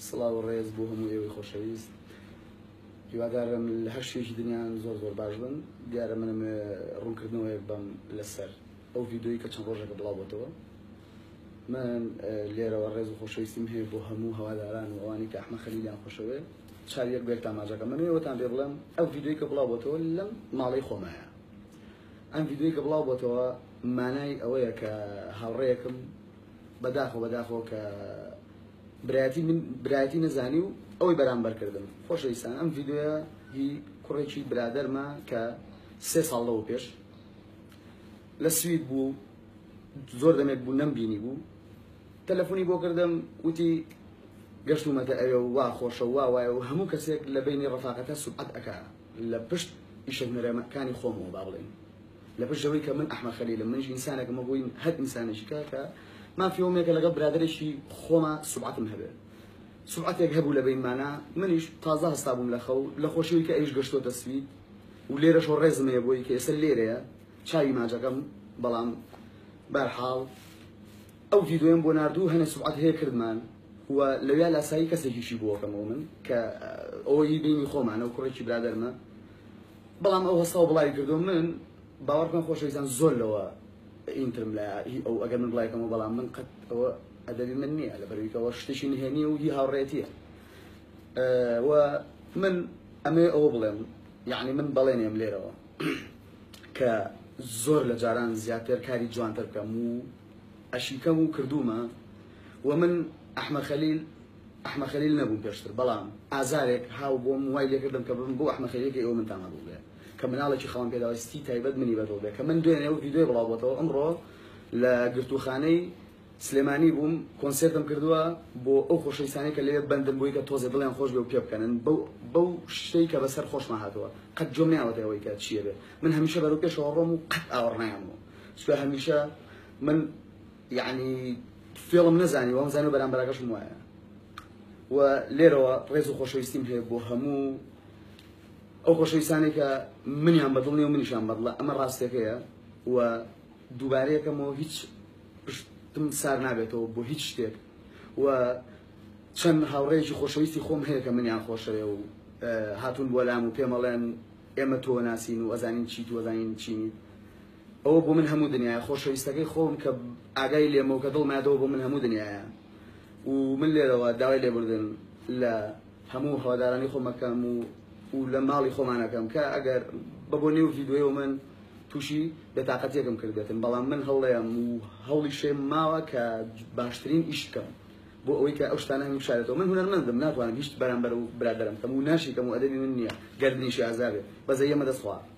سڵاو و ڕێز بۆ هەموو ئێوەی خۆشەویست هیوادارم لە هەر شوێکی دنیایان زۆر زۆر باش بن دیارە منم ڕوونکردنەوەیەک بەم لەسەر ئەو ڤیددیوی کە چەند ڕۆژەکە بڵاوبەتەوە من لێرەوە ڕێز و خۆشەویستیم هەیە بۆ هەموو هەواداران و ئەوانی کە ئەحمە خەلیلیان خۆشەوێت چاویەک بێت تاماجەکە منێوەتان پێ بڵێم ئەو ڤیددیوی کە بڵاوبەتەوە لەم ماڵی خۆمایە ئەم ڤیددیوی کە بڵاوبەتەوە مانای ئەوەیە کە هاوڕەیەکم بەداخەوە بەداخەوە کە برایەتی من برایەتی نەزانی و ئەوەی بەرامبەر کردم خۆشەویستان ئەم ڤیددیوە هی کوڕێکی برادەرمە کە سێ ساڵ لەوە پێش لە سوید بوو زۆر دەمێک بوو نەم بینی بوو تەلەفۆنی بۆ کردم وتی گەشتومەتە ئەوێ و وا خۆشە وا وایە و هەموو کەسێک لە بینی ڕفاقەتە سوبعەت ئەک لە پشت ئیشە هونەرەکانی خۆمەوە با بڵێن لە پشت ئەوەی کە من ئەحمەد خەلیلم منیش ئینسانێکم وەکو هەر ئینسانێکی کە کە مافی ئەوم یەکە لەگەڵ برادەرێکی خۆما سوبعەتم هەبێ سوبعەتێک هەبوو لە بینمانە منیش تازە هەستا بووم لە خەو لە خۆشیەوەی کە ئەویش گەشتۆتە سوید و لێرەشەوە ڕێزم هەیە بۆی کە ئێستا لێرەیە چاوی ماجەکەم بەڵام بەرحاڵ ئەو ڤیدۆیەم بۆ نردوو هەنێ سوبعەت هەیە کردمان و لەویا لاسایی کەسێکیشی بووەکەمەوە من کە ئەوەی بینی خۆمانە و کوڕێکی برادەرمە بەڵام ئەو هەستەوە بڵاوی کردووە من باوەڕ بکەن خۆشەویستان زۆر لەوە ئینترم لە هی ئەو ئەگەر من بڵای کەمەوە بەڵام من قەت ئەوە ئەدەبی من نییە لە بەرویکەوە شتێکی نهێنی و هی هاوڕێتیە و من ئەمێ ئەوە بڵێم یعنی من بەڵێنێم لێرەوە کە زۆر لە جاران زیاتر کاری جوانتر بکەم و ئەشیکەم و کردومە و من ئەحمە خەلیل ئەحمە خەلیل نەبووم پێشتر بەڵام ئازارێک هاو بۆم وای لێکردم کە بم بۆ ئەحمە خەلیل کە ئێوە منتان هەبوو بێ کە مناڵێکی خەوان پێداویستی تایبەت منی بەدڵ بێ کە من دوێنێ و ویدیۆی بڵاو بۆتەوە ئەمڕۆ لە گرتووخانەی سلێمانی بووم کۆنسرتم کردووە بۆ ئەو خۆشەویستانی کە لەوێ بەندن بووی کە تۆزێ دڵیان خۆش بێ و پێ بکەنن بەو بەو شتەی کە بەسەر خۆشمان هاتووە قەت جۆم نیاوەتە ئەوەی کە چیە بێ من هەمیشە بەرەو پێشەوە ڕۆم و قەت ئاوەڕنایان بوو چکە هەمیشە من یەعنی فێڵم نەزانی وام زانی و بەرامبەراکەشم وایە و لێرەوە ڕێز و خۆشەویستیم هەیە بۆ هەموو ئەو خۆشەویستانەی کە منیان بەدڵ نیە و منیشان بەدڵە ئەمە ڕاستەکەیە و دووبارەیەکەمەوە هیچ پشتم سار نابێتەوە بۆ هیچ شتێک و چەند هاوڕێکی خۆشەویستی خۆم هەیە کە منیان خۆشەوێ و هاتون بۆ لام و پێمەڵێن ئێمە تۆ ناسین و ئەزانین چیت وەزانین چینیت ئەوە بۆ من هەموو دنیایە خۆشەویستەکەی خۆم کە ئاگای لێمە و کە دڵمایەتەوە بۆ من هەموو دنیایە و من لێرەوە داوای لێبوردن لە هەموو هەوادارانی خۆمەکەم و و لە ماڵی خۆمانەکەم کە ئەگەر بە بۆ نێو ڤیددیو من تووشی بێتاقەتیەکم کردێتن بەڵام من هەڵڵێم و هەوڵی شێم ماوە کە باشترین ئیش بکەم بۆ ئەوەی کە ئەو شتانە هەموو شارێتەوە من هونەرمەندم ناتوانم هیچ بەرامبەر و برادەرم کەم و ناشیکەم و ئەدەبی من نییە گەردنیشی ئازابێ بەزە یەمە دەستخوا